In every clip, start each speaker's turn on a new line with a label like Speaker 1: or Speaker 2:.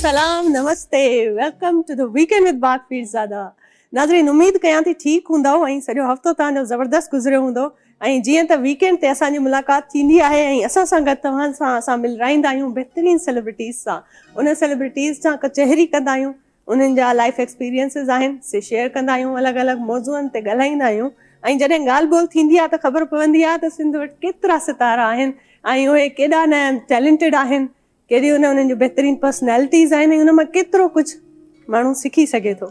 Speaker 1: سلام نمستي welcome to the weekend with باغ پير زاده ناظرين اميد ڪيان ٿي ٺيڪ هوندو ۽ سڄو هفتو توهان جو زبردست گذريو هوندو ۽ جيئن ته ويڪينڊ تي اسان جي ملاقات ٿيندي آهي ۽ اسان سان گڏ توهان سان اسان ملرائيندا آهيون بهترين سيلبرٽيز سان ان سيلبرٽيز سان ڪچهري ڪندا آهيون انهن جا لائيف ايڪسپيرينسز آهن سي شيئر ڪندا آهيون الڳ الڳ موضوعن تي ڳالهائيندا آهيون ۽ جڏهن ڳالهه ٻولهه ٿيندي آهي ته خبر پوندي آهي ته سنڌ وٽ ڪيترا ستارا آهن ۽ اهي ڪيڏا نه ٽيلنٽيڊ آهن ڪيڏيون نه انهن جون بهترين پرسنالٽيز آهن ۽ انهن مان ڪيترو ڪجهه ماڻهو سکي سگهي ٿو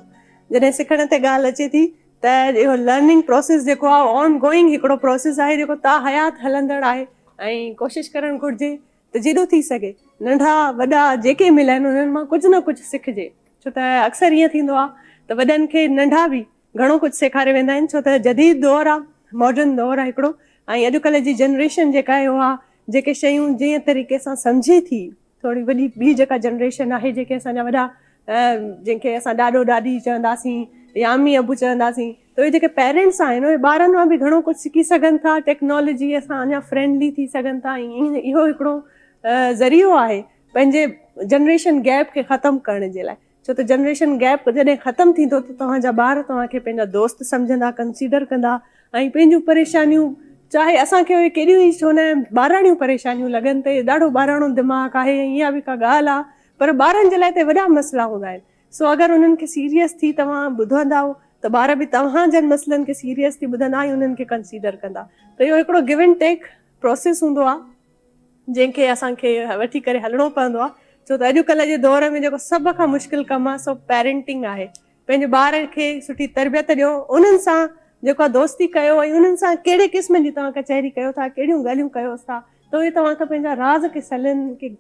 Speaker 1: جڏهن سکڻ تي ڳالهه اچي ٿي ته اهو لرننگ پروسيس جيڪو آهي اهو آن گوئنگ هڪڙو پروسيس آهي جيڪو تاحيات هلندڙ آهي ۽ ڪوشش ڪرڻ گهرجي ته جيڏو ٿي سگهي ننڍا وڏا جيڪي ملن انهن مان ڪجهه نه ڪجهه سکجي ڇو ته اڪثر ائين ٿيندو آهي ته وڏن کي ننڍا به گهڻو ڪجهه سيکاري ويندا آهن ڇو ته جديد دور آهي ماڊرن دور آهي هڪڙو ۽ اڄڪلهه جي جنريشن جيڪا آهي اها جيڪي شيون جنهن طريقي سان سمجهي ٿي ٿوري وڏي ٻي جيڪا جنريشن آهي جيڪي اسان جا وڏا جن کي اسان ڏاڏو ڏاڏي چونداسين يا امي ابو چونداسين ته اهي جيڪي پيرنٽس آهن اهي ٻارن مان به گهڻو ڪجهه سکي سگهن ٿا ٽيڪنالاجي سان اڃا فرينڊلي ٿي سگهن ٿا ۽ اهو هڪڙو ذريعو آهي پنهنجي جنريشن گيپ کي ختم ڪرڻ جي لاء ڇو ته جنريشن گيپ جڏهن ختم ٿيندو ته توهان جا ٻار توهان کي پنهنجا دوست سمجهندا ڪنسيڊر ڪندا ۽ پنهنجون پريشانيون چاهي اسان کي اهي ڪيڏيون ئي ڇو نه ٻاراڻيون پريشانيون لڳن ته ڏاڍو ٻاراڻو دماغ آهي ۽ اها به ڪا ڳالهه آهي پر ٻارن جي لاء ته وڏا مسئلا هوندا آهن سو اگر انهن کي سيريس ٿي توهان ٻڌندائو ته ٻار به توهان جن مسئلن کي سيريس ٿي ٻڌندا ۽ انهن کي ڪنسيڊر ڪندا ته اهو هڪڙو گيو اينڊ ٽيڪ پروسيس هوندو آهي جنهن کي اسان کي وٺي ڪري هلڻو پوندو آهي ڇو ته اڄ ڪلهه جي دور ۾ جيڪو سڀ کان مشڪل ڪم آهي سو پيرينٽنگ آهي پنهنجي ٻار کي سٺي تربيت ڏيو انهن سان جيڪا دوستي ڪيو ۽ انهن سان ڪهڙي قسم جي توهان ڪچهري ڪيو ٿا ڪهڙيون ڳالهيون ڪيوس ٿا ته اهي توهان کي پنهنجا راز ڪسلن ڪي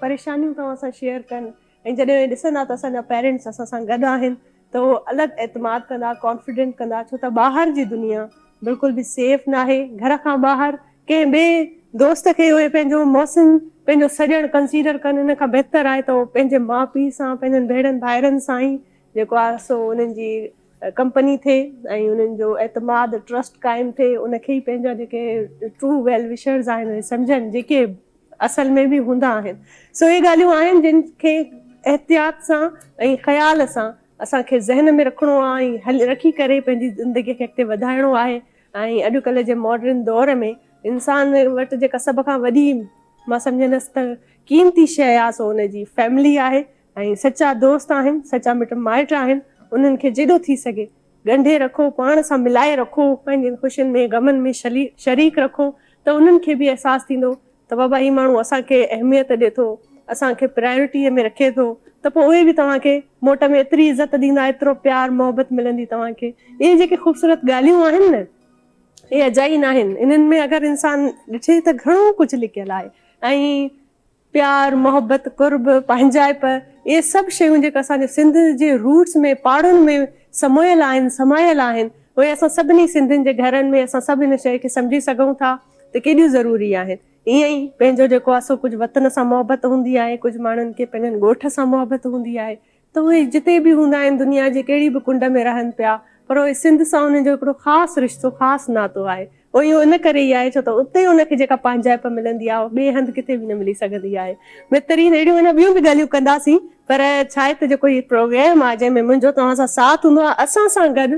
Speaker 1: پريشانيون توهان سان شيئر ڪن ۽ جڏهن ڏسندا ته اسان جا پيرنٽس اسان سان گڏ آهن ته اهو الڳ اعتماد ڪندا ڪانفيڊنٽ ڪندا ڇو ته ٻاهر جي دنيا بلڪل به سيف ناهي گهر کان ٻاهر ڪنهن ٻئي دوست کي اهي پنهنجو محسن پنهنجو سڄڻ ڪنسيڊر ڪن ان کان بهتر آهي ته اهو پنهنجي ماء پيء سان پنهنجن ڀيڻن ڀائرن سان ئي جيڪو آهي سو انهن جي ڪمپني ٿئي ۽ انهن جو اعتماد ٽرسٽ قائم ٿئي ان کي ئي پنهنجا جيڪي ٽرو ويل وشرز آهن اهي سمجهن جيڪي اصل ۾ به هوندا آهن. سو اهي ڳالهيون آهن جن کي احتياط سان ۽ خيال سان اسان کي ذهن ۾ رکڻو آهي ۽ هل رکي ڪري پنهنجي زندگي کي اڳتي وڌائڻو آهي ۽ اڄ ڪلهه جي ماڊرن دور ۾ انسان وٽ جيڪا سڀ کان وڏي مان سمجهندس ته قيمتي شيء آهي سو ان جي فيملي آهي ۽ سچا دوست آهن، سچا مٽ مائٽ آهن، انهن کي جيڏو ٿي سگهي ڳنڍي رکو، پاڻ سان ملائي رکو، پنهنجين خوشين ۾ غمن ۾ شريڪ رکو ته انهن کي به احساس ٿيندو ته بابا هي ماڻهو اسان کي اهميت ڏي ٿو، اسان کي پرائرٽيء ۾ رکي ٿو ته پوء اهي به توهان کي موٽ ۾ ايتري عزت ڏيندا، ايترو پيار محبت ملندي توهان کي. اهي جيڪي خوبصورت ڳالهيون آهن نه اهي اجائي ناهن، انهن ۾ اگر انسان ڏٺي ته گهڻو ڪجهه لڪيل آهي ۽ پيار، محبت، قرب، پنهنجائپ اهي سڀ شيون جيڪي اسان جي سنڌ جي روٽس ۾ پاڙن ۾ سمويل آهن، سمايل آهن اهي اسان سڀني سنڌين جي گهرن ۾ اسان سڀ ان شيء کي سمجهي سگهون ٿا ته ڪيڏيون ضروري آهن. ائين ئي پنهنجو جيڪو آهي سو ڪجهه وطن سان محبت هوندي آهي، ڪجهه ماڻهن کي پنهنجن ڳوٺ سان محبت هوندي آهي، ته اهي جتي به هوندا آهن، دنيا جي ڪهڙي به ڪنڊ ۾ رهن پيا، پر اهي سنڌ سان انهن جو هڪڙو خاص رشتو، خاص ناتو آهي. اهو اهو ان ڪري ئي آهي، ڇو ته اتي ان کي جيڪا پنهنجائپ ملندي آهي، اها ٻئي هنڌ ڪٿي به نه ملي سگهندي آهي. بهترين اهڙيون اڃا ٻيون به ڳالهيون ڪنداسين، پر ڇا آهي ته جيڪو هي پروگرام آهي، جنهن ۾ منهنجو توهان سان ساٿ هوندو آهي، اسان سان گڏ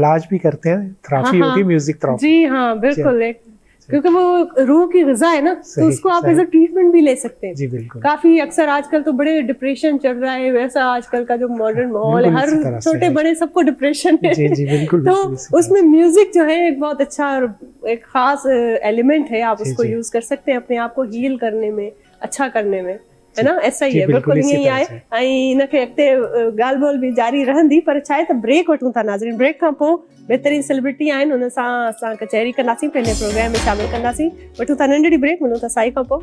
Speaker 2: علاج بي ڪرتي هين تھرافي هوتي هي ميوزڪ تھرافي جي ها بلڪل هي
Speaker 1: ڪيونڪه وو روح ڪي غذا هي نا تو اسڪو آپ ايز ا ٽريٽمنٽ بي لي سڪتي هي جي بلڪل ڪافي اڪثر
Speaker 2: آج ڪل
Speaker 1: تو بڙي ڊپريشن چڙ رها هي ويسا آج ڪل ڪا جو ماڊرن ماحول هي هر ڇوٽي بڙي سب ڪو ڊپريشن هي جي جي بلڪل تو
Speaker 2: اسمي
Speaker 1: ميوزڪ جو هي هڪ بهت اڇا هڪ خاص ايليمنٽ هي آپ اسڪو يوز ڪر سڪتي هي اپني آپ ڪو هيل ڪرني مي اڇا ڪرني مي هي نه ايس اي اي بلڪل ائين ئي آهي ۽ ان کي اڳتي ڳالهه ٻولهه به جاري رهندي پر ڇا آهي ته بريڪ وٺون ٿا ناظرين بريڪ کان پوء بهترين سيلبرٽي آهن ان سان اسان ڪچهري ڪنداسين پنهنجي پروگرام ۾ شامل ڪنداسين وٺون ٿا ننڍڙي بريڪ ملون ٿا سائي کان پوء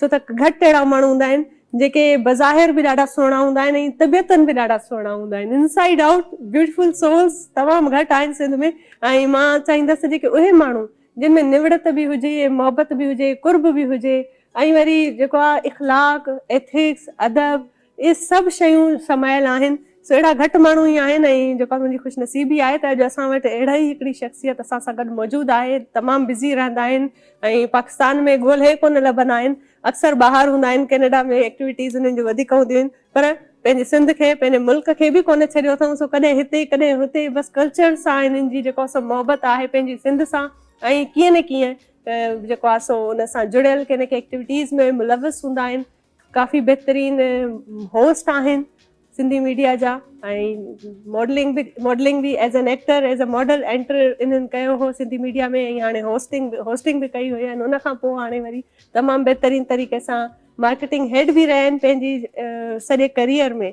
Speaker 1: ڇو ته گهٽ اهڙا ماڻهو هوندا آهن جيڪي بظاهر به ڏاڍا سهڻا هوندا آهن ۽ طبيعتن به ڏاڍا سهڻا هوندا آهن inside out beautiful souls تمام گهٽ آهن سنڌ ۾ ۽ مان چاهيندس جيڪي اهي ماڻهو جن ۾ نوڙت به هجي محبت به هجي قرب به هجي ۽ وري جيڪو آهي اخلاق ايٿڪس ادب اهي سڀ شيون سمايل آهن، سو اهڙا گهٽ ماڻهو ئي آهن ۽ جيڪا منهنجي خوش نصيبي آهي ته اڄ اسان وٽ اهڙي ئي هڪڙي شخصيت اسان سان گڏ موجود آهي، تمام بزي رهندا آهن ۽ پاڪستان ۾ ڳولهي ڪونه لڀندا آهن، اڪثر ٻاهر هوندا آهن، ڪينيڊا ۾ ايڪٽيوٽيز انهن جون وڌيڪ هونديون آهن پر پنهنجي سنڌ کي، پنهنجي ملڪ کي به ڪونه ڇڏيو اٿئون، سو ڪڏهن هتي، ڪڏهن هتي، بس ڪلچر سان هنن جي جيڪو سو محبت آهي پنهنجي سنڌ سان ۽ ڪيئن نه ڪيئن جيڪو آهي سو ان سان جڙيل ڪي نه ڪي ايڪٽيوٽيز ۾ ملوث هوندا آهن، ڪافي بهترين هوسٽ آهن سنڌي ميڊيا جا ۽ ماڊلنگ به ماڊلنگ به as an actor as a model enter انهن ڪيو هو سنڌي ميڊيا ۾ ۽ هاڻي هوسٽنگ به هوسٽنگ به ڪئي هئي ۽ ان کان پوء هاڻي وري تمام بهترين طريقي سان مارڪيٽنگ هيڊ به رهيا آهن پنهنجي سڄي ڪريئر ۾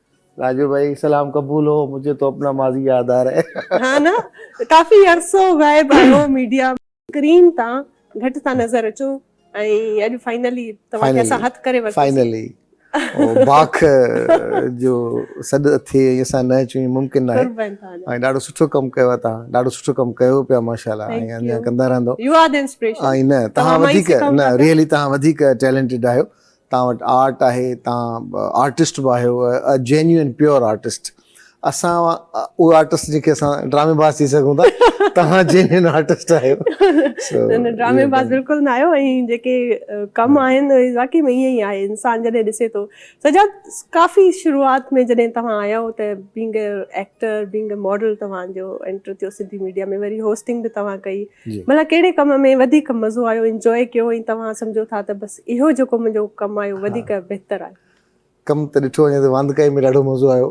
Speaker 3: راجو ڀائي سلام قبول هو مجھي تو اپنا ماضي ياد آ رهي. ها نه ڪافي
Speaker 1: عرصو غائب آهيو ميڊيا اسڪرين تان گهٽ ٿا نظر اچو ۽ اڄ فائنلي توهان کي اسان هٿ ڪري ورتوسين. فائنلي
Speaker 3: باک جو سڏ اٿئي ۽ اسان نه اچون اهي ممڪن ناهي ۽ ڏاڍو سٺو ڪم ڪيو آهي تهان ڏاڍو سٺو ڪم ڪيو پيا ماشاءالله ۽ اڃا ڪندا رهندو ۽ نه تهان وڌيڪ نه ريئلي تهان وڌيڪ ٽيلنٽيڊ آهيو توهان وٽ آرٽ آهي، توهان آرٽسٽ به آهيو، ا جينيون پيور آرٽسٽ. اسان اهي آرٽسٽ جيڪي اسان ڊرامي باز ٿي سگهون ٿا، توهان جينيون آرٽسٽ آهيو. نه نه ڊرامي
Speaker 1: باز بلڪل نه آهيو ۽ جيڪي ڪم آهن اهي واقعي ۾ ائين ئي آهي انسان جڏهن ڏسي ٿو. سجاد ڪافي شروعات ۾ جڏهن توهان آيا هئو ته being a actor being a model توهان جو انٽر ٿيو سنڌي ميڊيا ۾ وري هوسٽنگ به توهان ڪئي ڀلا ڪهڙي ڪم ۾ وڌيڪ مزو آيو انجوائي ڪيو ۽ توهان سمجهو ٿا ته بس اهو جيڪو منهنجو ڪم آيو وڌيڪ بهتر آيو. ڪم ته ڏٺو
Speaker 3: وڃي ته واندڪائي ۾ ڏاڍو مزو آيو.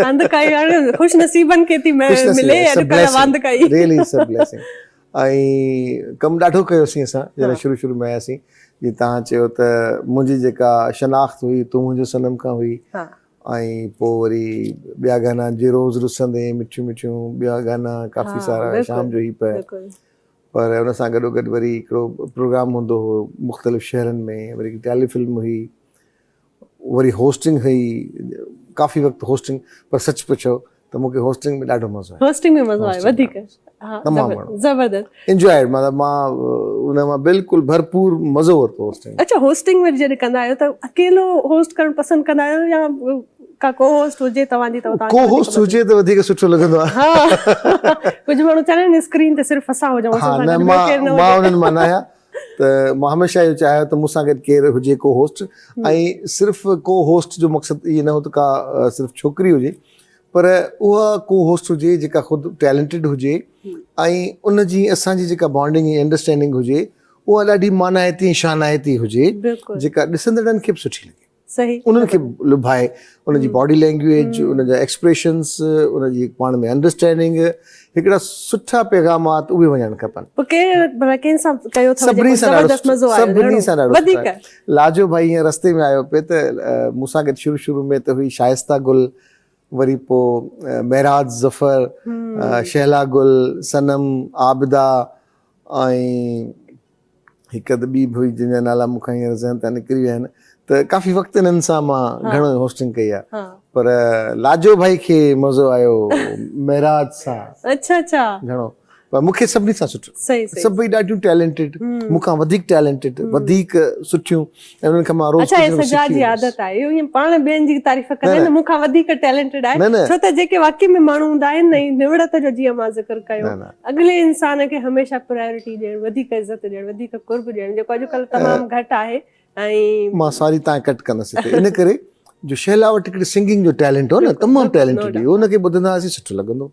Speaker 3: واندڪائي
Speaker 1: هاڻي خوش نصيبن کي ٿي ملي اڄڪلهه واندڪائي. Really it's a blessing.
Speaker 3: ۽ ڪم ڏاڍو ڪيوسين اسان جڏهن شروع شروع ۾ آياسين جي تهان چيو ته منهنجي جيڪا شناخت هئي تون منهنجو صنم کان هئي ۽ پوء وري ٻيا گانا جي روز رسندين مٺيون مٺيون ٻيا گانا ڪافي سارا شام جو هي پهه. پر ان سان گڏو گڏ وري هڪڙو پروگرام هوندو هو مختلف شهرن ۾ وري هڪ ٽيلي فلم هئي وري هوسٽنگ هئي ڪافي وقت هوسٽنگ پر سچ پڇو ته مون کي هوسٽنگ ۾ ڏاڍو مزو آيو هوسٽنگ ۾ مزو آيو وڌيڪ
Speaker 1: ها تمام گهڻو
Speaker 3: زبردست
Speaker 1: انجوائيڊ مطلب مان
Speaker 3: ان مان بلڪل ڀرپور مزو ورتو هوسٽنگ اڇا هوسٽنگ وري جڏهن
Speaker 1: ڪندا آهيو ته اڪيلو هوسٽ ڪرڻ پسند ڪندا آهيو يا ڪا ڪو هوسٽ هجي توهان جي ته
Speaker 3: توهان کي وڌيڪ مزو ايندو ڪو هوسٽ هجي ته وڌيڪ سٺو لڳندو آهي ها
Speaker 1: ڪجهه ماڻهو چوندا آهن اسڪرين تي صرف اسان هجون اسان سان گڏ ٻيو ڪير نه هجي مان
Speaker 3: انهن مان نه آهيان ته مان هميشه اهو چاهيو ته مون سان گڏ ڪير هجي ڪو هوسٽ ۽ صرف ڪو هوسٽ جو مقصد اهو نه هو ته ڪا صرف ڇوڪري هجي پر اها ڪو هوسٽ هجي جيڪا خود ٽيلنٽيڊ هجي ۽ ان جي اسان جي جيڪا بانڊنگ ۽ انڊرسٽينڊنگ هجي اها ڏاڍي مانائتي ۽ شانائتي هجي جيڪا ڏسندڙن کي به سٺي لڳي انهن کي
Speaker 1: لڀائي
Speaker 3: انهن جي باڊي لينگويج انهن جا ايڪسپريشنس انهن جي پاڻ ۾ انڊرسٽينڊنگ هڪڙا سٺا پيغامات اهي وڃڻ کپن سڀني سان ڏاڍو لاجو ڀائي ائين رستي ۾ آيو پئي ته مون سان گڏ شروع شروع ۾ ته هئي شائسته گل وري پوء معراج ظفر شهلا گل صنم عابده ۽ هڪ اڌ ٻي به هئي جن جا نالا مون کان هينئر ذهن تان نڪري ويا آهن ته ڪافي وقت انهن سان مان گهڻو هوسٽنگ ڪئي آهي پر لاجو ڀائي کي مزو آيو معراج سان اچھا اچھا گهڻو پر مون کي سڀني سان سٺو سڀئي ڏاڍيون ٽيلنٽيڊ مون کان وڌيڪ ٽيلنٽيڊ وڌيڪ سٺيون انهن کان مان روز ڪجهه نه ڪجهه سکي ويس. اچا هي سجاد جي عادت
Speaker 1: آهي اهو ائين پاڻ ٻين جي تعريف ڪندو آهي نه مون کان وڌيڪ ٽيلنٽيڊ آهي ڇو ته جيڪي واقعي ۾ ماڻهو هوندا آهن نه نوڙت جو جيئن مان ذڪر ڪيو اڳلي انسان کي هميشه پرائرٽي ڏيڻ وڌيڪ عزت ڏيڻ وڌيڪ قرب ڏيڻ جيڪو اڄڪلهه تمام
Speaker 3: گهٽ
Speaker 1: آهي ۽
Speaker 3: مان
Speaker 1: ساري
Speaker 3: تان ڪٽ
Speaker 1: ڪندس
Speaker 3: هتي
Speaker 1: ان
Speaker 3: ڪري جو شهلا وٽ هڪڙي سنگنگ جو ٽيلنٽ هو نه تمام ٽيلنٽيڊ هئي ان کي ٻڌندا هئاسين سٺو لڳندو هو.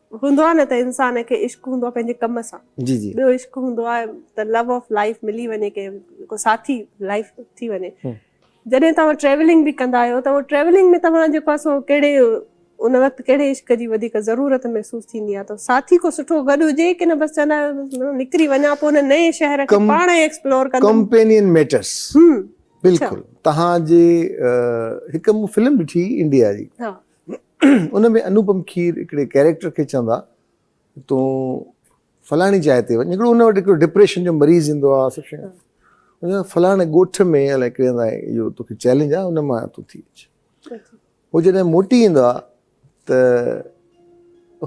Speaker 1: هوندو آهي نه ته انسان کي عشق هوندو آهي پنهنجي ڪم سان ٻيو عشق
Speaker 3: هوندو آهي
Speaker 1: ته لو آف لائيف ملي وڃي ڪنهن ڪو ساٿي لائيف ٿي وڃي جڏهن توهان ٽريولنگ به ڪندا آهيو ته ٽريولنگ ۾ توهان جيڪو آهي سو ڪهڙي ان وقت ڪهڙي عشق جي وڌيڪ ضرورت محسوس ٿيندي آهي ته ساٿي ڪو سٺو گڏ هجي ڪي نه بس چوندا آهيو نڪري وڃان پوء هن نئين شهر کي پاڻ ئي ايڪسپلور ڪندم ڪمپينين ميٽرس
Speaker 3: بلڪل توهان جي هڪ مون فلم ڏٺي انڊيا جي ان ۾ انوپم کير هڪڙي ڪيريڪٽر کي چوندا تون فلاڻي جاء تي وڃ هڪڙو ان وٽ هڪڙو ڊپريشن جو مريض ايندو آ سڀ شيء ان فلاڻي ڳوٺ ۾ الائي ڪهڙي هندا اهو توکي چئلينج آ ان مان تون ٿي اچ هو جڏهن موٽي ايندو آ ته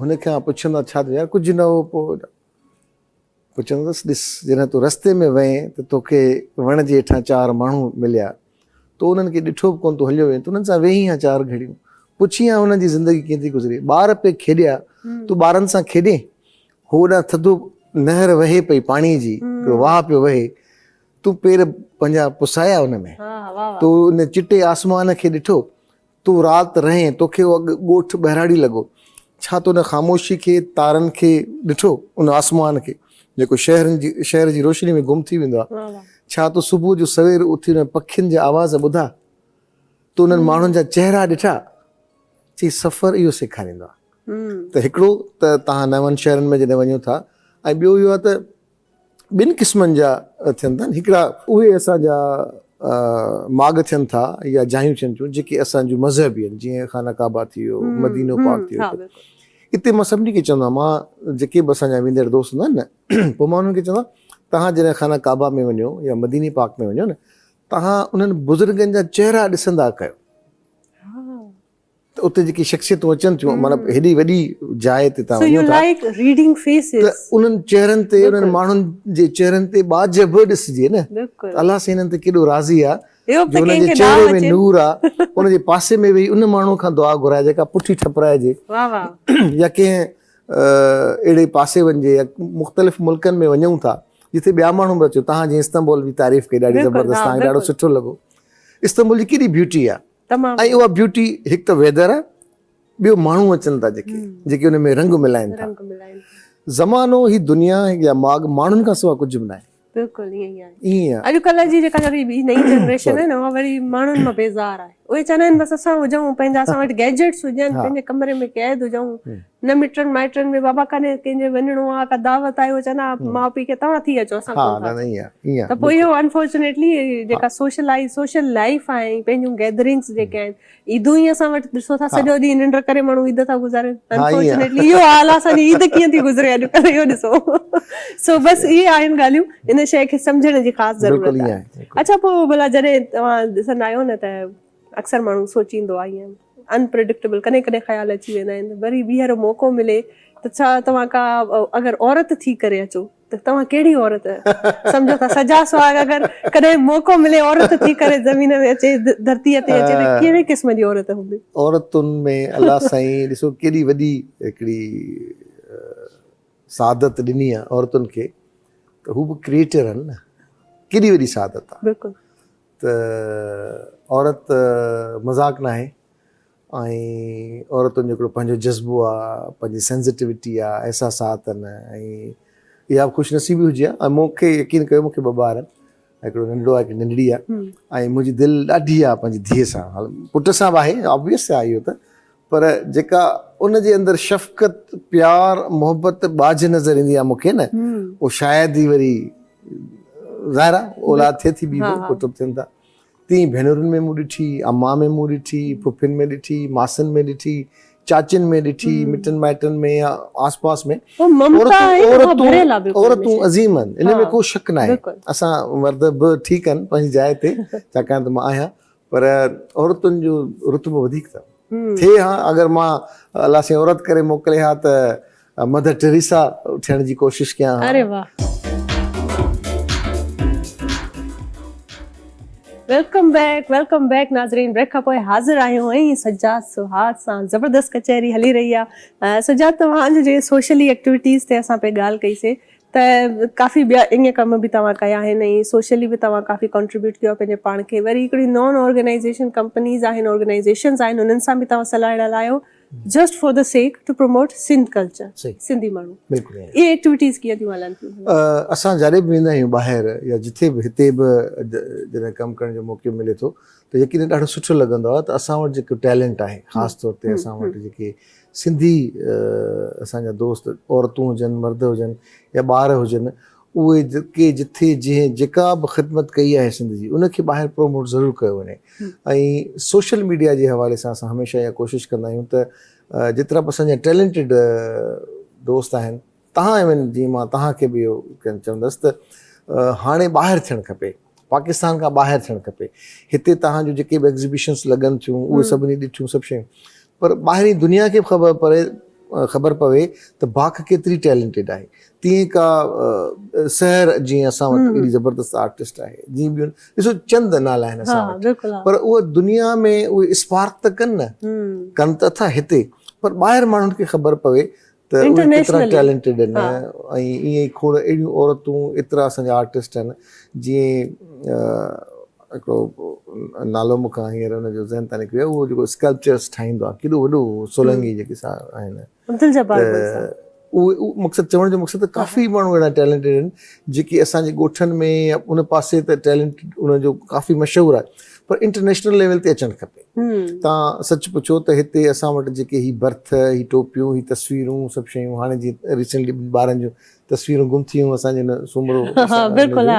Speaker 3: هن کان پڇندا ڇا ٿيو يار ڪجهه نه هو پوء پوء چوندس، ڏس، جڏهن تون رستي ۾ وئين ته توکي وڻ جي هيٺان چار ماڻهو مليا. تو انهن کي ڏٺو به ڪونه، تون هليو وئين ته انهن سان ويهين ها چار گهڙيون. پڇين ها انهن جي زندگي ڪيئن ٿي گذري. ٻار پئي کيڏيا، تون ٻارن سان کيڏين. هو هوڏانهن ٿڌو نهر وهي پئي پاڻي جي، هڪڙو واهه پيو وهي. تون پير پنهنجا پسايا ان ۾. تو ان چٽي آسمان کي ڏٺو. تون رات رهين، توکي اهو اڳ ڳوٺ ٻهراڙي لڳو. ڇا تو ان خاموشي کي، تارن کي ڏٺو، ان آسمان کي، جيڪو شهرن جي شهر جي روشني ۾ گم ٿي ويندو آ؟ ڇا تو صبح جو سوير اٿي انهن پکين جا آواز ٻڌا؟ تو انهن ماڻهن جا چهرا ڏٺا؟ چي سفر اهو سيکاريندو آ ته هڪڙو ته توهان نون شهرن ۾ جڏهن وڃو ٿا ۽ ٻيو اهو آ ته ٻن قسمن جا ٿين ٿا هڪڙا اهي اسان جا ماڳ ٿين ٿا يا جايون ٿين ٿيون جيڪي اسان جون مذهبي آهن جيئن خانه ڪعبه ٿي ويو مدينو پاڪ ٿي ويو اتي مان سڀني کي چوندو آهيان مان جيڪي به اسان جا ويندڙ دوست هوندا آهن نه پوء مان انهن کي چوندو تهان جڏهن خانه ڪعبه ۾ وڃو يا مديني پاڪ ۾ وڃو نه تهان انهن بزرگن جا چهرا ڏسندا ڪيو ته اتي جيڪي شخصيتون اچن ٿيون معنيٰ هيڏي وڏي جاء تي تان وڃو ٿا ته انهن چهرن تي انهن ماڻهن جي چهرن تي ٻاجهه به ڏسجي نه ته الله سائين هنن تي ڪيڏو راضي آ جو هن جي چهري ۾ نور آ ان جي پاسي ۾ ويهي ان ماڻهو کان دعا گهرائي جيڪا پٺي ٺپرائجي يا ڪنهن اهڙي پاسي وڃجي يا مختلف ملڪن ۾ وڃون ٿا جتي ٻيا ماڻهو به اچو تهان جي استنبول جي تعريف ڪئي ڏاڍي زبردست تهان کي ڏاڍو سٺو لڳو استنبول جي ڪيڏي بيوٽي آ تمام ۽ اها بيوٽي هڪ ته ويدر آ ٻيو ماڻهو اچن ٿا جيڪي جيڪي ان ۾ رنگ ملائن ٿا رنگ ملائن ٿا زمانو هي دنيا يا ماڳ ماڻهن کان سوا ڪجهه به ناهي بلڪل
Speaker 1: ائين ئي آهي ائين آهي اڄ ڪلهه جي جيڪا وري ٻي نئين جنريشن آهي نه اها وري ماڻهن مان بيزار آهي اهي چوندا آهن بس اسان هجون پنهنجا اسان وٽ گيجيٽس هجن پنهنجي ڪمري ۾ قيد هجون نه مٽن مائٽن ۾ بابا ڪڏهن ڪنهن جي وڃڻو آ ڪا دعوت آهي هو چون ها ماء پيء کي توهان ٿي اچو اسان ڪونه ٿا اچون ته پوء اهو انفارچونيٽلي جيڪا سوشلائز سوشل لائيف آهي ۽ پنهنجون گيدرنگس جيڪي آهن عيدون ئي اسان وٽ ڏسو ٿا سڄو ڏينهن ننڊ ڪري ماڻهو عيد ٿا گذارين انفارچونيٽلي اهو حال آ اسان جي عيد ڪيئن ٿي گذري اڄڪلهه اهو ڏسو سو بس اهي آهن ڳالهيون ان شيء کي سمجهڻ جي خاص ضرورت آهي اڇا پوء ڀلا جڏهن توهان ڏسندا آهيو نه ته اڪثر ماڻهو سوچيندو آ ائين Unpredictable ڪڏهن ڪڏهن خيال اچي ويندا آهن وري ٻيهر موقعو ملي ته ڇا توهان ڪا اگر عورت ٿي ڪري اچو ته توهان ڪهڙي عورت سمجهو ٿا سجا سهاڳ اگر ڪڏهن موقعو ملي عورت ٿي ڪري زمين ۾ اچي ڌرتي تي اچي ته ڪهڙي قسم جي عورت هوندي عورتن ۾
Speaker 3: الله سائين ڏسو ڪيڏي وڏي هڪڙي سعادت ڏني آهي عورتن کي ته هو به ڪريئيٽر آهن نه ڪيڏي وڏي سعادت آهي بلڪل ته عورت مذاق ناهي ۽ عورتن جو هڪڙو پنهنجو جذبو آ، پنهنجي سينسيٽيوٽي آ، احساسات آهن ۽ اها به خوش نصيبي هجي ها ۽ مون کي يقين ڪيو مون کي ٻه ٻار آهن هڪڙو ننڍڙو آهي هڪڙي ننڍڙي آهي ۽ منهنجي دل ڏاڍي آ پنهنجي ڌيء سان پٽ سان به آهي آبويس آ اهو ته پر جيڪا ان جي اندر شفقت، پيار، محبت، ٻاجهه نظر ايندي آهي مون کي نه اهو شايد ئي وري ظاهر آهي اولاد ٿئي ٿي ٻي به ڪتب ٿين ٿا تيئن ڀينرن ۾ مون ڏٺي، امان ۾ مون ڏٺي، ڦڦين ۾ ڏٺي، ماسين ۾ ڏٺي، چاچين ۾ ڏٺي، مٽن مائٽن ۾ يا آس پاس ۾ عورتون عظيم آهن ان ۾ ڪو شڪ ناهي اسان مرد به ٺيڪ آهن پنهنجي جاء تي ڇاڪاڻ ته مان آهيان پر عورتن جو رتبو وڌيڪ اٿن. ٿئي ها اگر مان الله سائين عورت ڪري موڪلي ها ته مڌر ٽريسا ٿيڻ جي ڪوشش ڪيان ها. اري واه.
Speaker 1: ويلڪم بيڪ ويلڪم بيڪ ناظرين بريڪ کان پوء حاضر آهيون ۽ سجاد سهاڳ سان زبردست ڪچهري هلي رهي آهي سجاد توهان جي سوشلي ايڪٽيوٽيز تي اسان پئي ڳالهه ڪئي سي ته ڪافي ٻيا اڃا ڪم به توهان ڪيا آهن ۽ سوشلي به توهان ڪافي ڪنٽريبيوٽ ڪيو آهي پنهنجي پاڻ کي وري هڪڙي نان آرگنائيزيشن ڪمپنيز آهن آرگنائيزيشنز آهن انهن سان به توهان صلاح اڙا لايو just for the sake to promote Sindh culture Sindhi ماڻهو بلڪل اهي ايڪٽيوٽيز
Speaker 3: ڪيئن
Speaker 1: ٿيون هلن ٿيون اسان جڏهن به ويندا
Speaker 3: آهيون ٻاهر يا جتي به هتي به جڏهن ڪم ڪرڻ جو موقعو ملي ٿو ته يقينن ڏاڍو سٺو لڳندو آهي ته اسان وٽ جيڪو ٽيلنٽ آهي خاص طور تي اسان وٽ جيڪي سنڌي اسان جا دوست عورتون هجن مرد هجن يا ٻار هجن اهي ڪي جٿي جنهن جيڪا به خدمت ڪئي آهي سنڌ جي ان کي ٻاهر پروموٽ ضرور ڪيو وڃي ۽ سوشل ميڊيا جي حوالي سان اسان هميشه اها ڪوشش ڪندا آهيون ته جيترا به اسان جا ٽيلنٽيڊ دوست آهن تهان ايوين جي مان تهان کي به اهو چوندس ته هاڻي ٻاهر ٿيڻ کپي پاڪستان کان ٻاهر ٿيڻ کپي هتي تهان جون جيڪي به ايگزيبيشنس لڳن ٿيون اهي سڀني ڏٺيون سڀ شيون پر ٻاهرين دنيا کي به خبر پري خبر پوي ته باک ڪيتري ٽيلنٽيڊ آهي تيئن ڪا سحر جيئن اسان وٽ اهڙي زبردست آرٽسٽ آهي جيئن ٻيون ڏسو چند نالا آهن اسان وٽ پر اهو دنيا ۾ اهي اسپارڪ ته ڪن نه ڪن ته اٿا هتي پر ٻاهر ماڻهن کي خبر پوي ته اهي ڪيترا ٽيلنٽيڊ آهن ۽ ائين ئي کوڙ اهڙيون عورتون ايترا اسان جا آرٽسٽ آهن جيئن هڪڙو نالو مون کان هينئر ان جو ذهن تان نڪري ويو اهو جيڪو اسڪلپچرس ٺاهيندو آهي ڪيڏو وڏو سولنگي جيڪي سا آهن عبدالجبار ڀٽ صاحب اهو مقصد چوڻ جو مقصد ته ڪافي ماڻهو اهڙا ٽيلنٽيڊ آهن جيڪي اسان جي ڳوٺن ۾ ان پاسي ته ٽيلنٽ ان جو ڪافي مشهور آهي پر انٽرنيشنل ليول تي اچڻ کپي تان سچ پڇو ته هتي اسان وٽ جيڪي هي برٿ هي ٽوپيون هي تصويرون سڀ شيون هاڻي جي ريسنٽلي ٻارن جون تصويرون گم ٿيون اسان جي سومرو بلڪل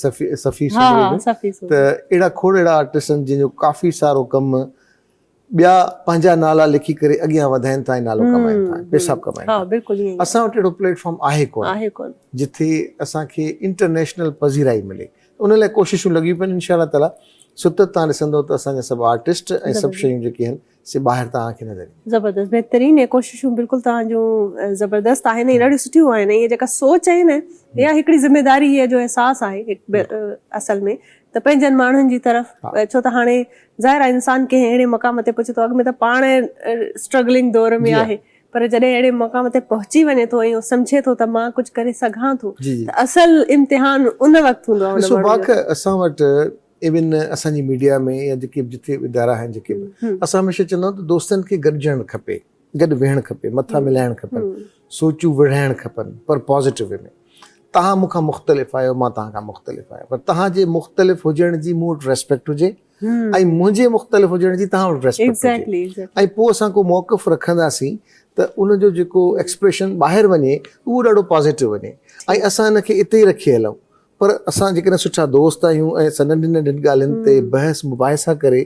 Speaker 3: صفي صفي سومرو ته اهڙا کوڙ اهڙا آرٽسٽن جن جو ڪافي سارو ڪم ٻيا پنهنجا نالا لکي ڪري اڳيان وڌائين ٿا ۽ نالو ڪمائين ٿا ۽ پئسا به ڪمائين ٿا اسان وٽ اهڙو پليٽ فارم آهي ڪونه جتي اسان کي انٽرنيشنل پذيرائي ملي ان لاء ڪوششون لڳيون پيون آهن انشاء الله تعاليٰ ستت تان ڏسندو ته اسان جا سڀ آرٽسٽ ۽ سڀ شيون جيڪي آهن سي ٻاهر تان کي نظر اينديون زبردست بهترين ۽
Speaker 1: ڪوششون بلڪل تان جون زبردست آهن ۽ ڏاڍيون سٺيون آهن ۽ هي جيڪا سوچ آهي نه يا هڪڙي ذميداري جو احساس آهي اصل ۾ ته پنهنجن ماڻهن جي طرف ڇو ته هاڻي ظاهر آهي انسان ڪنهن اهڙي مقام تي پهچي ٿو اڳ ۾ ته پاڻ اسٽرگلنگ دور ۾ آهي پر جڏهن اهڙي مقام تي پهچي وڃي ٿو ۽ سمجهي ٿو ته مان ڪجهه ڪري سگهان ٿو ته اصل امتحان ان وقت هوندو آهي ڏسو باک اسان وٽ
Speaker 3: ايون اسان جي ميڊيا ۾ يا جيڪي به جتي به ادارا آهن جيڪي به اسان هميشه چوندا آهيون ته دوستن کي گڏجڻ کپي گڏ ويهڻ کپي مٿا ملائڻ کپن سوچون وڙهائڻ کپن پر پازيٽو وي ۾ توهان مون کان مختلف آهيو مان توهان کان مختلف آهيان پر توهان جي مختلف هجڻ جي مون وٽ ريسپيڪٽ هجي ۽ منهنجي مختلف هجڻ جي توهان وٽ ريسپيڪٽ هجي ۽ پوء اسان ڪو موقف رکنداسين ته ان جو جيڪو ايڪسپريشن ٻاهر وڃي اهو ڏاڍو پازيٽو وڃي ۽ اسان ان کي اتي ئي رکي هلون پر اسان جيڪڏهن سٺا دوست آهيون ۽ اسان ننڍين ننڍين ڳالهين تي بحث مباحثا ڪري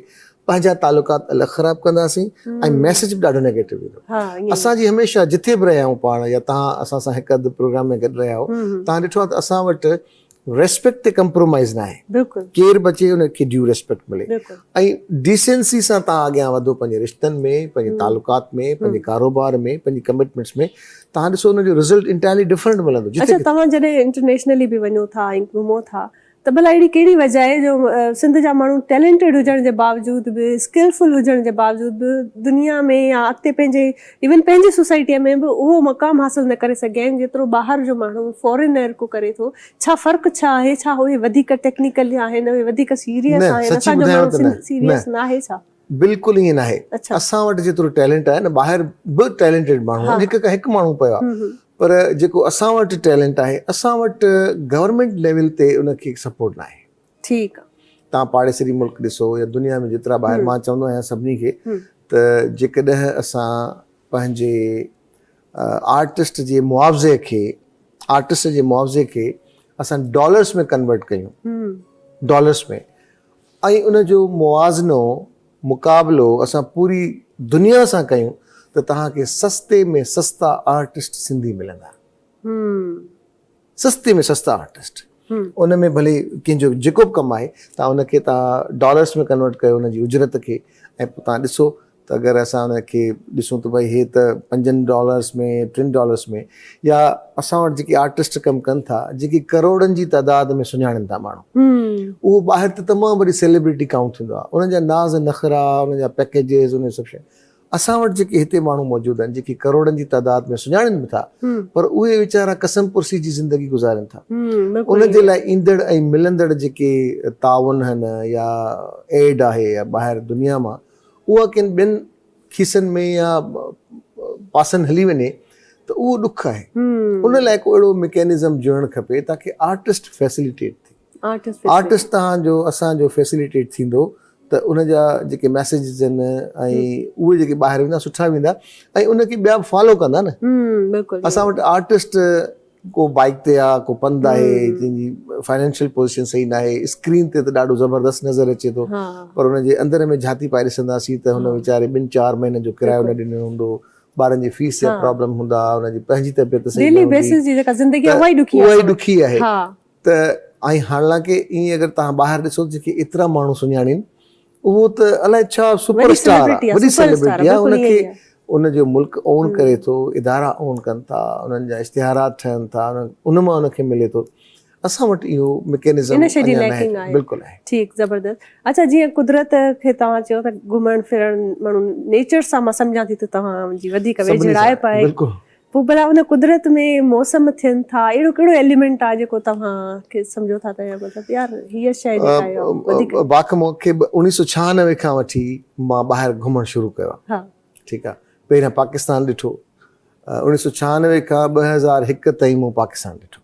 Speaker 3: پنهنجا تعلقات الڳ خراب ڪنداسين ۽ ميسيج به ڏاڍو نيگيٽو ايندو اسان جي هميشه جتي به رهيا آهيون پاڻ يا تهان اسان سان هڪ اڌ پروگرام ۾ گڏ رهيا آهيو تهان ڏٺو آهي ته اسان وٽ ريسپيڪٽ تي ڪمپرومائيز نه آهي ڪير به اچي ان کي ڊيو ريسپيڪٽ ملي ۽ ڊيسينسي سان تهان اڳيان وڌو پنهنجي رشتن ۾ پنهنجي تعلقات ۾ پنهنجي ڪاروبار ۾ پنهنجي ڪمٽمينٽس ۾ تهان ڏسو ان جو رزلٽ انٽائرلي ڊفرنٽ ملندو اڇا تهان جڏهن
Speaker 1: انٽرنيشنلي به وڃو ٿا ۽ گهمو ٿا ته ڀلا اهڙي ڪهڙي وجهه آهي جو سنڌ جا ماڻهو ٽيلينٽيڊ هجڻ جي باوجود به اسڪلفل هجڻ جي باوجود به دنيا ۾ يا اڳتي پنهنجي ايون پنهنجي سوسائٽي ۾ به اهو مقام حاصل نه ڪري سگهيا آهن جيترو ٻاهر جو ماڻهو فارينر ڪو ڪري ٿو ڇا فرق ڇا آهي ڇا اهي وڌيڪ ٽيڪنيڪل آهن اهي وڌيڪ سيريس آهن اسان جو ماڻهو سيريس ناهي ڇا؟ بلڪل ائين ناهي
Speaker 3: اسان وٽ جيترو ٽيلنٽ آهي نه ٻاهر به ٽيلنٽيڊ ماڻهو آهن هڪ کان هڪ ماڻهو پيو آهي پر جيڪو اسان وٽ ٽيلنٽ آهي اسان وٽ گورنمينٽ ليول تي ان کي سپورٽ ناهي ٺيڪ
Speaker 1: تان پاڙيسري ملڪ
Speaker 3: ڏسو يا دنيا ۾ جيترا ٻاهر مان چوندو آهيان سڀني کي ته جيڪڏهن اسان پنهنجي آرٽسٽ جي معاوضي کي آرٽسٽ جي معاوضي کي اسان ڊالرس ۾ ڪنورٽ ڪيون ڊالرس ۾ ۽ ان جو موازنو، مقابلو، اسان پوري دنيا سان ڪيون ته توهان کي سستي ۾ سستا آرٽسٽ سنڌي ملندا. سستي ۾ سستا آرٽسٽ. ان ۾ ڀلي ڪنهن جو جيڪو به ڪم آهي، توهان ان کي توهان ڊالرس ۾ ڪنورٽ ڪيو ان جي اجرت کي ۽ پوء توهان ڏسو ته اگر اسان ان کي ڏسون ته ڀئي هي ته پنجن ڊالرس ۾ ٽن ڊالرس ۾ يا اسان وٽ جيڪي آرٽسٽ ڪم ڪن ٿا جيڪي ڪروڙن جي تعداد ۾ سڃاڻن ٿا ماڻهو اهو ٻاهر ته تمام وڏي سيلبريٽي ڪائونٽ ٿيندو آهي انهن جا ناز نخرا انهن جا پيڪيجز انهن سڀ شيون اسان وٽ جيڪي هتي ماڻهو موجود آهن جيڪي ڪروڙن جي تعداد ۾ سڃاڻن به ٿا پر اهي ويچارا قسم پرسي جي زندگي گذارين ٿا ان جي لاء ايندڙ ۽ ملندڙ جيڪي تعاون آهن يا ايڊ آهي يا ٻاهر دنيا مان اها ڪن ٻين کيسن ۾ يا پاسن هلي وڃي ته اهو ڏک آهي. ان لاء ڪو اهڙو مڪينزم جوڙڻ کپي تاڪي آرٽسٽ فيسليٽيٽ ٿئي. آرٽسٽ توهان جو اسان جو فيسليٽيٽ ٿيندو ته ان جا جيڪي ميسيجز آهن ۽ اهي جيڪي ٻاهر ويندا سٺا ويندا ۽ ان کي ٻيا به فالو ڪندا نه. اسان وٽ آرٽسٽ ڪو بائيڪ تي آ ڪو پنڌ آهي جنهن جي فائنينشل پوزيشن صحيح نه آهي اسڪرين تي ته ڏاڍو زبردست نظر اچي ٿو پر ان جي اندر ۾ جهاتي پائي ڏسنداسين ته هن ويچاري ٻن چار مهينن جو ڪرايو نه ڏنو هوندو ٻارن جي فيس جا پرابلم هوندا ان جي پنهنجي طبيعت صحيح نه هوندي ته اها ئي ڏکي آهي ته ۽ حالانڪه ائين اگر تهان ٻاهر ڏسو جيڪي ايترا ماڻهو سڃاڻين اهو ته الائي ڇا سپر اسٽار آ وڏي سيلبرٽي آ ان کي ان جو ملڪ اون ڪري ٿو ادارا اون ڪن ٿا انهن جا اشتهارات ٺهن ٿا ان مان ان کي ملي ٿو اسان وٽ اهو مڪينزم ان شي جي ليڪنگ آهي بلڪل آهي ٺيڪ زبردست
Speaker 1: اچھا جيئن قدرت کي توهان چيو ته گهمڻ ڦرڻ ماڻهو نيچر سان مان سمجهان ٿي ته توهان جي وڌيڪ ويجهڙائپ آهي بلڪل پوء ڀلا ان قدرت ۾ موسم ٿين ٿا اهڙو ڪهڙو ايليمينٽ آهي جيڪو توهان کي سمجهو ٿا ته مطلب يار هيء شيء جيڪا آهي وڌيڪ باقي مون کي اڻيهه
Speaker 3: سؤ ڇهانوي کان وٺي مان ٻاهر گهمڻ شروع ڪيو آهي ٺيڪ آهي پهريان پاڪستان ڏٺو اڻيهه سؤ ڇهانوي کان ٻه هزار هڪ تائين مون پاڪستان ڏٺو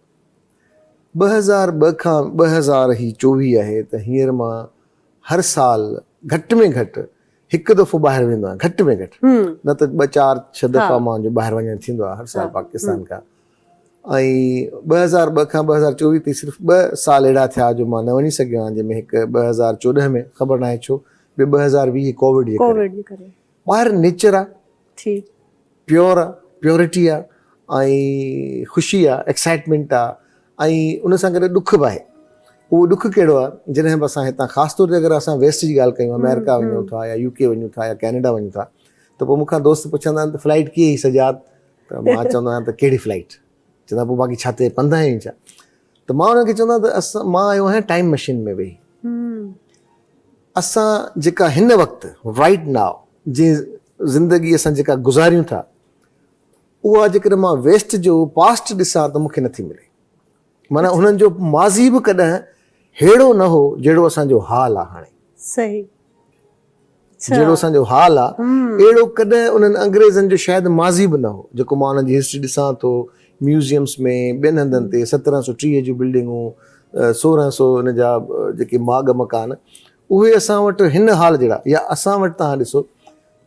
Speaker 3: ٻه هزار ٻه کان ٻه هزار هي چوويهه آهي ته هينئر مان هر سال گهٽ ۾ گهٽ هڪ دفعو ٻاهر ويندو آهيان گهٽ ۾ گهٽ نه ته ٻه چار ڇهه دفعا مانجو ٻاهر وڃڻ ٿيندو آهي هر سال پاڪستان کان ۽ ٻه هزار ٻه کان ٻه هزار چوويهه تائين صرف ٻه سال اهڙا ٿيا جو مان نه وڃي سگهيو آهيان جنهن ۾ هڪ ٻه هزار چوڏهن ۾ خبر ناهي ڇو ٻيو ٻه هزار ويهه ڪوويڊ جي ڪري ٻاهر نيچر آهي ٿي. پيور آ، پيورٽي آ ۽ خوشي آ، ايڪسائيٽمينٽ آ ۽ ان سان گڏ ڏک به آهي. اهو ڏک ڪهڙو آ، جڏهن به اسان هتان خاص طور تي اگر اسان ويسٽ جي ڳالهه ڪيون، آمريڪا وڃون ٿا يا يوڪي وڃون ٿا يا ڪينيڊا وڃون ٿا ته پوء مون کان دوست پڇندا آهن ته فلائيٽ ڪيئي سجاد؟ ته مان چوندو آهيان ته ڪهڙي فلائيٽ؟ چوندا پوء باقي ڇا تي پنڌ آهين ڇا ته مان انهن کي چوندا ته اسان مان آيو آهيان ٽائيم مشين ۾ ويهي اسان جيڪا هن وقت رائيٽ ناء جي زندگي اسان جيڪا گذاريون ٿا اها جيڪڏهن مان ويسٽ جو پاسٽ ڏسان ته مونکي نٿي ملي معنيٰ انهن جو ماضي به ڪڏهن ههڙو نه هو جهڙو اسان جو حال آهي هاڻي صحيح جهڙو اسان جو حال آ، اهڙو ڪڏهن انهن انگريزن جو شايد ماضي به نه هو، جيڪو مان انهن جي هسٽري ڏسان ٿو، ميوزيمس ۾ ٻين هنڌن تي سترهن سؤ ٽيهه جون بلڊنگون، سورهن سؤ ان جا جيڪي ماڳ مڪان، اهي اسان وٽ هن حال جهڙا يا اسان وٽ توهان ڏسو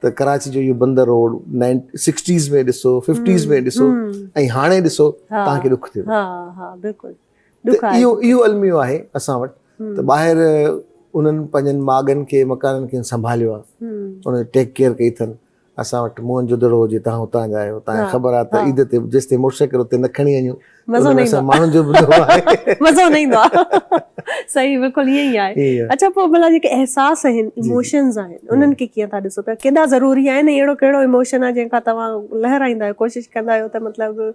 Speaker 3: ته ڪراچي جو اهو بندر روڊ نائين سڪسٽيز ۾ ڏسو، ففٽيز ۾ ڏسو ۽ هاڻي ڏسو توهان کي ڏک ٿيندو. ڏک آهي اهو اهو الميو آهي اسان وٽ ته ٻاهر انهن پنهنجن ماڳن کي مڪانن کي سنڀاليو آهي ان جي ٽيڪ ڪيئر ڪئي اٿن اسان وٽ موهن جو دڙو هجي تان هتان جا آهيو تان خبر آهي ته عيد تي جيستي موٽرسائيڪل اتي نه کڻي وڃو مزو نه ايندو ماڻهن جو به آهي مزو نه
Speaker 1: ايندو صحيح بلڪل ائين ئي آهي اچھا پوء بلا جيڪي احساس آهن ايموشنز آهن انهن کي ڪيئن ٿا ڏسو پيا ڪيڏا ضروري آهن اهڙو ڪهڙو ايموشن آهي جنهن کان توهان لهرائيندا آهيو ڪوشش ڪندا آهيو ته مطلب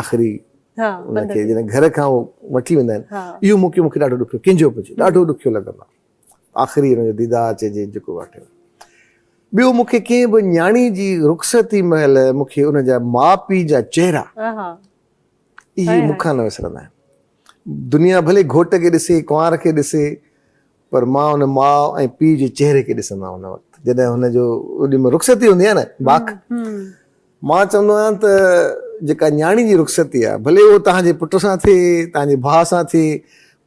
Speaker 3: آخري ان کي جڏهن گهر کان هو وٺي ويندا آهن اهو موقعو مون کي ڏاڍو ڏکيو ڪنجهو به هجي ڏاڍو ڏکيو لڳندو آهي آخري ان جو ديدار چئجي جيڪو واقعو ٻيو مون کي ڪنهن به نياڻي جي رخصتي مهل مون کي ان جا ماء پيء جا چهرا اهي مون کان نه وسرندا آهن دنيا ڀلي گهوٽ کي ڏسي ڪنوار کي ڏسي پر مان ان ماء ۽ پيء جي چهري کي ڏسندو آهيان ان وقت جڏهن هن جو اوڏي مهل رخصتي هوندي آهي نه باک مان چوندو آهيان ته جيڪا نياڻي جي رخصتي آهي ڀلي اهو توهان جي پٽ سان ٿئي توهان جي ڀاء سان ٿئي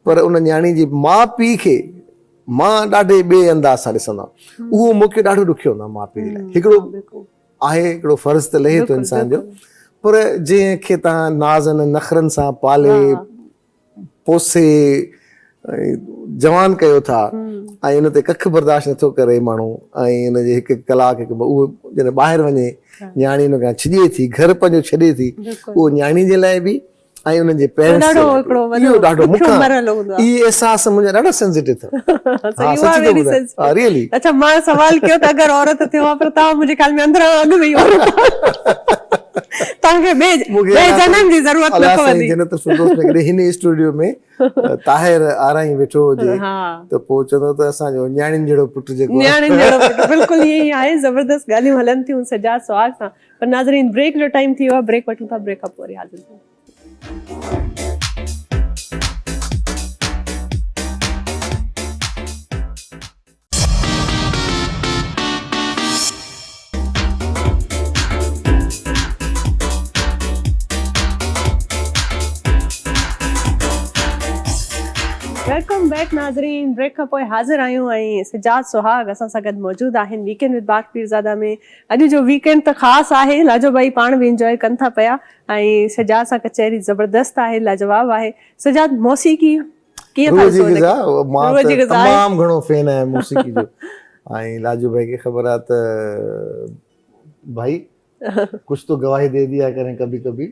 Speaker 3: پر ان نياڻي جي ماء پيء کي مان ڏاڍي ٻئي انداز سان ڏسندو آهيان اهو مون کي ڏاڍو ڏکيو هوندو آهي ماء پيء جي لاء هڪڙو آهي هڪڙو فرض ته لهي ٿو انسان جو پر جنهن کي تان نازن نخرن سان پالي پوسي ۽ جوان ڪيو ٿا ۽ ان تي ڪک برداشت نٿو ڪري ماڻهو ۽ ان جي هڪ هڪ ڪلاڪ هڪ اهو جڏهن ٻاهر وڃي نياڻي ان کان ڇڄي ٿي گهر پنهنجو ڇڏي ٿي اهو نياڻي جي لاء به ۽ انهن جي پيرنٽس جو اهو ڏاڍو مکيون مرحلو هوندو آهي اهي احساس منهنجا ڏاڍا سينسيٽو اٿن ها سچ ٿو ٻڌايان ريئلي اڇا مان سوال
Speaker 1: ڪيو ته اگر عورت ٿيو ها پر توهان منهنجي خيال ۾ اندران اڳ ۾ ئي عورت آهيو توهان کي ٻئي ٻئي جنم جي ضرورت نه پوندي. الله سائين جنت الفردوس ۾ ڪڏهن
Speaker 3: هن اسٽوڊيو ۾ طاهر آرائين ويٺو هجي ته پوء چوندو ته اسان جو نياڻين جهڙو پٽ جيڪو آهي. نياڻين جهڙو پٽ بلڪل
Speaker 1: ائين ئي آهي. زبردست ڳالهيون هلن ٿيون سجاد سهاڳ سان پر ناظرين بريڪ جو ٽائيم ٿي ويو آهي بريڪ وٺون ٿا بريڪ کان پوء وري حاضر ٿيون. ويلڪم بيڪ ناظرين بريڪ کان پوء حاضر آهيون ۽ سجاد سهاڳ اسان سان گڏ موجود آهن ويڪينڊ وٿ باغ پيرزاده ۾ اڄ جو ويڪينڊ ته خاص آهي لاجو ڀائي پاڻ به انجوائي ڪن ٿا پيا ۽ سجاد سان ڪچهري زبردست آهي لاجواب آهي سجاد موسيقي ڪيئن ٿا ڏسو ان کي روح جي غذا مان ته
Speaker 3: تمام گهڻو فين آهيان موسيقي جو ۽ لاجو ڀائي کي خبر آهي ته ڀائي ڪچھ تو گواهي دي ديا ڪرين ڪڀي ڪڀي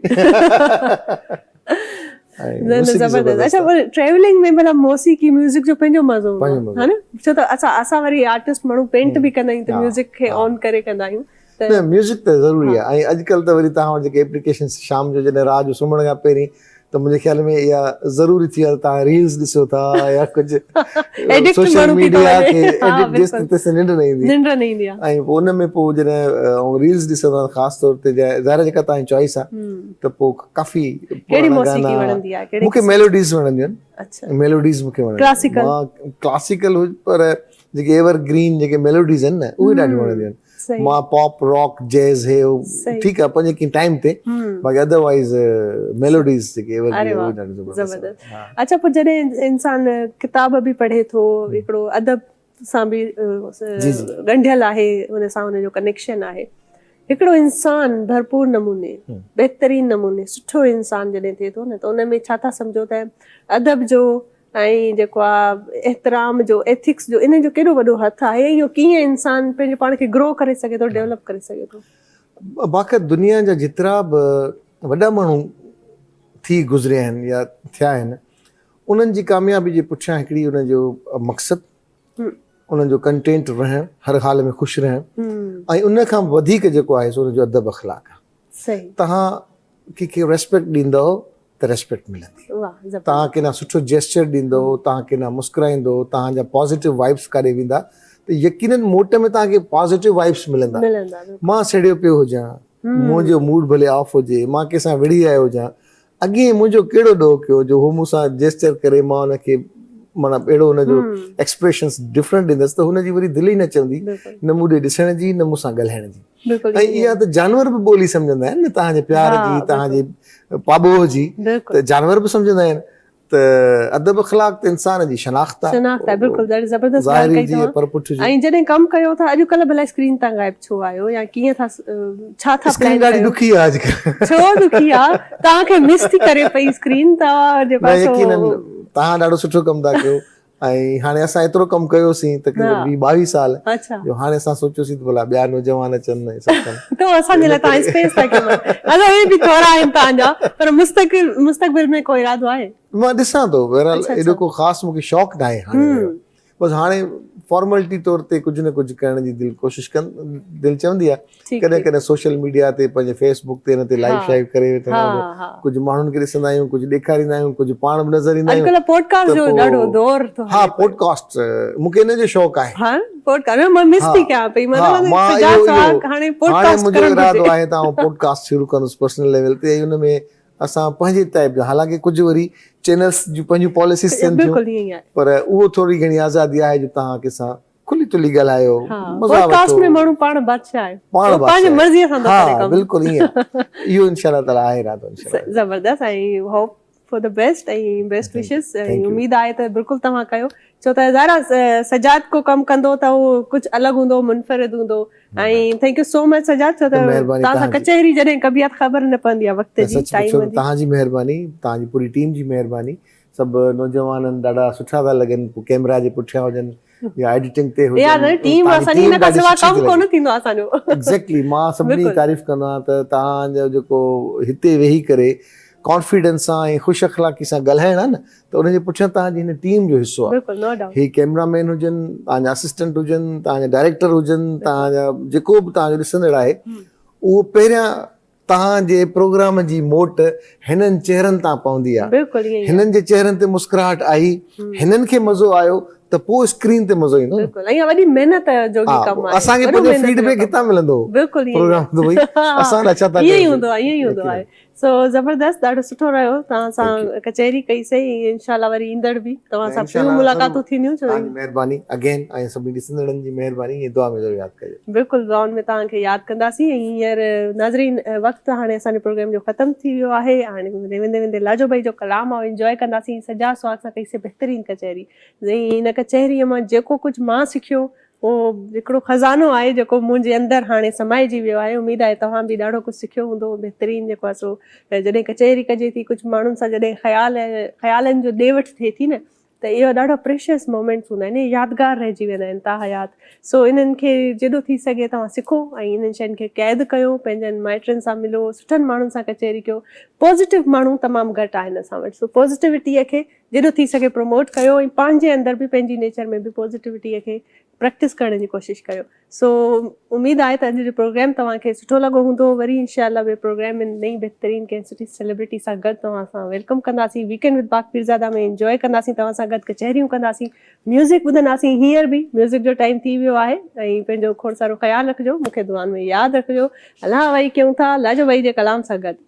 Speaker 3: نه نه
Speaker 1: زبردست اچا وري ٽريولنگ ۾ بھلا موسيقي ميوزڪ جو پنھنجو مزو ھوندو آھي ھا نه ڇو ته اسان اسان وري آرٽسٽ ماڻھو پينٽ به ڪندا آھيون ته ميوزڪ کي آن ڪري ڪندا آھيون نه ميوزڪ ته ضروري آهي
Speaker 3: ۽ اڄڪلهه ته وري توهان وٽ جيڪي اپليڪيشنس شام جو جڏهن رات جو سمهڻ کان پهرين ته منهنجي خيال ۾ اها ضروري ٿي وئي آهي ته توهان ريلز ڏسو ٿا يا ڪجهه سوشل ميڊيا کي ايڊڪٽ ڏس ته تيسين ننڊ نه ايندي ننڊ نه ايندي آهي ۽ پوء ان ۾ پوء جڏهن ريلز ڏسندو آهيان خاص طور تي ظاهر جيڪا توهان جي چوائس آهي ته پوء ڪافي ڪهڙي موسيقي وڻندي آهي مون کي ميلوڊيز وڻنديون آهن اچھا ميلوڊيز مون کي وڻنديون ڪلاسيڪل ڪلاسيڪل پر جيڪي ايور گرين جيڪي ميلوڊيز آهن نه اهي ڏاڍيون وڻنديون آهن صحيح. مان پاپ راڪ جيز هي هو صحيح. ٺيڪ آهي پنهنجي ڪنهن ٽائيم تي هم. باقي اڌر وائيز ميلوڊيز جيڪي ايور اري گرين واهه هو ڏاڍي زبردست زبردست آهن
Speaker 1: ها. اڇا پوء جڏهن انسان ڪتاب به پڙهي ٿو هڪڙو ادب سان به جي جي. ڳنڍيل آهي ان سان ان جو ڪنيڪشن آهي هڪڙو انسان ڀرپور نموني هم. بهترين نموني سٺو انسان جڏهن ٿئي ٿو نه ته ان ۾ ڇا ٿا سمجهو ته ادب جو ۽ جيڪو آ احترام جو ايٿڪس جو انهن جو ڪيڏو وڏو هٿ آهي ۽ اهو ڪيئن انسان پنهنجو پاڻ کي گرو ڪري سگهي ٿو ڊيولپ ڪري سگهي ٿو. باقي
Speaker 3: دنيا جا جيترا به وڏا ماڻهو ٿي گذريا آهن يا ٿيا آهن انهن جي ڪاميابي جي پٺيان هڪڙي انهن جو مقصد انهن جو ڪنٽينٽ رهڻ هر حال ۾ خوش رهڻ ۽ ان کان وڌيڪ جيڪو آهي سو انهن جو ادب اخلاق آهي صحيح تهان ڪنهن کي ريسپيڪٽ ڏيندؤ ته ريسپيڪٽ ملندي توهان ڪنا سٺو جيسچر ڏيندو توهان ڪنا مسڪرائيندو توهان جا پازيٽو وائبس ڪاڏي ويندا ته يقينن موٽ ۾ توهان کي پازيٽو وائبس ملندا مان سڙيو پيو هجان منهنجو موڊ ڀلي آف هجي مان ڪنهن سان وڙهي آيو هجان اڳي منهنجو کيڙو ڏو ڪيو جو هو مون سان جيسچر ڪري مان ان کي مانا اهڙو ان جو ايڪسپريشنس ڊفرنٽ ڏيندس ته هن جي وري دل ئي نه چوندي نه مون ڏي ڏسڻ جي نه مون سان ڳالهائڻ جي ۽ اها ته جانور به ٻولي سمجهندا آهن نه توهان جي پيار جي توهان جي پاٻوهه جي ته جانور به سمجهندا آهن ته ادب اخلاق ته انسان جي شناخت آهي شناخت آهي بلڪل ڏاڍي زبردست
Speaker 1: ڳالهه ڪئي توهان پر پٺ جي ۽ جڏهن ڪم ڪيو ٿا اڄ ڪلهه ڀلا اسڪرين تان غائب ڇو آهيو يا ڪيئن ٿا ڇا ٿا اسڪرين ڏاڍي ڏکي آهي اڄ ڪلهه
Speaker 3: ڇو ڏکي آهي
Speaker 1: توهان کي مس ٿي ڪري پئي اسڪرين توهان جي پاسو توهان ڏاڍو
Speaker 3: سٺو ڪم ٿا ڪيو ۽ هاڻي اسان ايترو ڪم ڪيوسين تقريبن ويهه ٻاويهه سال جو هاڻي اسان سوچيوسين ته ڀلا ٻيا نوجوان اچن ۽ سڀ ڪن تو اسان جي لاء تائين اسپيس
Speaker 1: ٿا ڪيون اسان اهي به ٿورا آهن تان جا پر مستقل مستقبل ۾ ڪو ارادو آهي مان ڏسان ٿو
Speaker 3: بهرحال ايڏو ڪو خاص مون کي شوق نه آهي هاڻي اهڙو بس هاڻي فارملٽي طور تي ڪجهه نه ڪجهه ڪرڻ جي دل ڪوشش ڪن دل چوندي آهي ٺيڪ ڪڏهن ٺيڪ ڪڏهن سوشل ميڊيا تي پنهنجي فيس بڪ تي ان تي ها لائيو شائيو ڪري وٺندا ها آهيون ته ها ڪجهه ماڻهن کي ڏسندا آهيون ڪجهه ڏيکاريندا آهيون ڪجهه پاڻ به نظر ايندا آهيون اڄڪلهه پوڊڪاسٽ ته جو پوء ڏاڍو
Speaker 1: دور ٿو ها هلي پيو پوڊڪاسٽ
Speaker 3: مون کي ان جو شوق آهي ها پوڊڪاسٽ نه مان
Speaker 1: مس ها ٿي ڪيان پئي مان ها چوان ٿي مان اهو فجاز اهو سهاڳ هاڻي هاڻي پوڊڪاسٽ منهنجو ڪرڻ ارادو گهرجي آهي ته
Speaker 3: آئون پوڊڪاسٽ شروع ڪندس پرسنل ليول تي ۽ ان ۾ اسان پنهنجي ٽائيپ جا حالانڪه ڪجهه وري چينلز جون پنهنجون پاليسيز ٿين ٿيون بلڪل ائين ئي آهي پر اهو ٿوري گهڻي آزادي آهي جو توهان کي سان کلي تلي ڳالهايو مزا وٺو پوڊڪاسٽ ۾
Speaker 1: ماڻهو پاڻ بادشاهه آهي پاڻ پنهنجي مرضي سان ٿا ڪري ڪم
Speaker 3: بلڪل
Speaker 1: ائين اهو انشاء
Speaker 3: الله تعالي
Speaker 1: آهي
Speaker 3: ارادو انشاء الله
Speaker 1: زبردست ۽
Speaker 3: hope for
Speaker 1: the best ۽ best wishes اميد آهي ته بلڪل توهان ڪيو ڇو ته ظاهر آهي سجاد ڪو ڪم ڪندو ته هو ڪجهه الڳ هوندو منفرد هوندو ۽ thank you so much Sajjad ڇو ته توهان سان ڪچهري
Speaker 3: جڏهن
Speaker 1: ڪبي آهي ته خبر نه پوندي آهي وقت جي ٽائيم جي توهان جي
Speaker 3: مهرباني توهان جي پوري ٽيم جي مهرباني سڀ نوجوانن ڏاڍا سٺا ٿا لڳن پوء ڪيمرا جي پٺيان هجن يا ايڊيٽنگ تي هجن يا ٽيم اسان
Speaker 1: جي ان کان سواء ڪم ڪونه ٿيندو آهي اسان جو ايگزيڪٽلي مان سڀني
Speaker 3: جي تعريف ڪندو آهيان ته توهان جو جيڪو هتي ويهي ڪري ڪانفيڊنس سان ۽ خوش اخلاقي سان ڳالهائڻ آهي نه ته ان جي پٺيان توهان جي هن ٽيم جو حصو آهي هي ڪيمرا
Speaker 1: مين هجن
Speaker 3: توهان جا اسسٽنٽ هجن توهان جا ڊائريڪٽر هجن توهان جا جيڪو به توهان جو ڏسندڙ آهي اهو پهريان توهان جي پروگرام جي موٽ هنن چهرن تان پوندي آ هنن جي چهرن
Speaker 1: تي مسڪراهٽ
Speaker 3: آئي هنن کي مزو آيو ته پو اسڪرين تي مزو ايندو
Speaker 1: نه اسان کي پنهنجو فيڊ بيڪ
Speaker 3: هتان
Speaker 1: ملندو پروگرام
Speaker 3: ته ڀئي
Speaker 1: اسان
Speaker 3: لاء
Speaker 1: ڇا ٿا
Speaker 3: ڪيو بلڪل زون ۾ توهان کي
Speaker 1: ياد ڪنداسين ۽ هينئر ناظرين وقت هاڻي اسان جي پروگرام جو ختم ٿي ويو آهي هاڻي ويندي ويندي لاجو ڀائي جو ڪلام آئون انجوائي ڪنداسين سجاد سهاڳ سان ڪئي سي بهترين ڪچهري زين ان ڪچهري مان جيڪو ڪجهه مان سکيو اهو هڪڙو خزانو آهي جيڪو منهنجي اندر هاڻي سمائجي ويو آهي اميد آهي توهان به ڏاڍو ڪجهه سکيو هوندو بهترين جيڪو آهي سو جڏهن ڪچهري ڪجي ٿي ڪجهه ماڻهن سان جڏهن خيال خيالن جو ڏي وٺ ٿئي ٿي نه ته اهي ڏاڍا پريشيس مومينٽس هوندا آهن اهي يادگار رهجي ويندا آهن تاحيات سو انهن کي جيڏو ٿي سگهي توهان سکو ۽ انهن شين کي قيد ڪيو پنهنجن مائٽن سان ملو سٺن ماڻهن سان ڪچهري ڪيو پازيٽو ماڻهو تمام گهٽ آهن اسان وٽ سو پازيٽوٽيء کي جيڏو ٿي سگهي پروموٽ ڪيو ۽ پنهنجي اندر به پنهنجي نيچر ۾ به پازيٽوٽيء کي پريڪٽس ڪرڻ جي ڪوشش ڪريو سو اميد آهي ته اڄ جو پروگرام توهان کي سٺو لڳو هوندو وري انشاء الله ٻي پروگرام ۾ نئين بهترين ڪنهن سٺي سيلبرٽي سان گڏ توهان سان ويلڪم ڪنداسين ويڪينڊ وٿ باغ پيرزاده ۾ انجوء ڪنداسين توهان سان گڏ ڪچهريون ڪنداسين ميوزڪ ٻڌنداسين هينئر به ميوزڪ جو ٽائيم ٿي ويو آهي ۽ پنهنجو کوڙ سارو خيال رکجو مون کي دعائن ۾ ياد رکجو الله وحي ڪيون ٿا الله جو وحي جي ڪلام سان گڏ